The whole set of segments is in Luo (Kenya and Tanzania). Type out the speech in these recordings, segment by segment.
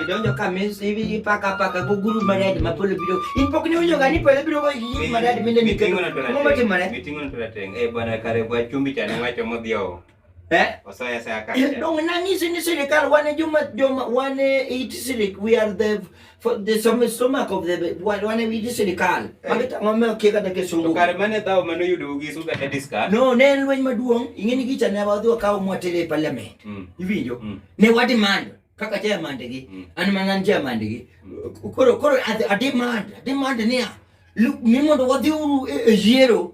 Idonjo ka mes hivi paka paka guguru maradi mapolo biro. Ipok ni unyo gani pole biro kwa gigi maradi mende miketo. Mama ti maradi. Mitingo na tulateng. Eh bwana kare kwa chumbi chani wacho modhiyo. Eh? Osoya sa ka. Eh, dong nani sinisilikal wane juma juma wane itisilik we are the for the some stomach of the wane wane itisilikal. Eh. Magita ngome okeka da kesungu. To kare mane tao mano yudo gi suga da discuss. No, ne en lweny maduong' ing'eni gicha ne wadhi wakawo mwatele e parliament. Mm. Iwinjo? Mm. Ne wadimando kaka chairman gi mm. an mana an chairman gi koro koro adimand adimand niya mi mondo wadhi uru e, e yiero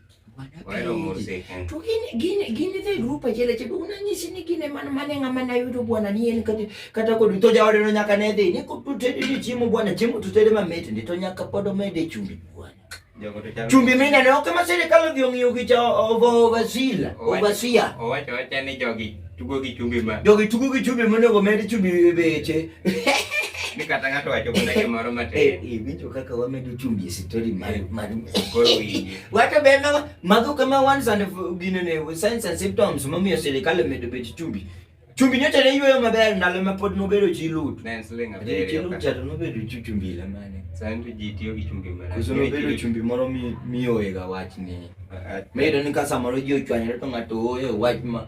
to gin idhi grup achiel achiel to unanyisi ni gine man mane ng'ama nayudo bwana ni en kata kod to jaodeno nyaka ne dhi ni tutedi ni chiemo bwana chiemo tutedi mamit ndi to nyaka pod omede chumbi bwana chumbi minene ok ma sirikal odhi ong'iyo gi cha ovasila ovasia owacho wacha ni jogi tugo gi chumbi ma jogi tugo gi chumbi monego med chumbi e beche ni kata ng'ato wacho mana gimoro matin eh, eh, winjo kaka wamedo chumbi e story mar eh. mar koro winji wacho be ma mago kama ones and gine ne signs and symptoms momiyo sirikal omedo bet chumbi chumbi nyocha ne yweyo maber ndalo ma pod nobedo chi lut ne sling abiriyo chi lut chato nobedo chi chumbi la mane santo ji tiyo gi chumbi mara kuso nobedo chumbi moro mi miyoega wach ni medo ni ka samoro ji ochwanyore to ng'ato oyo wach ma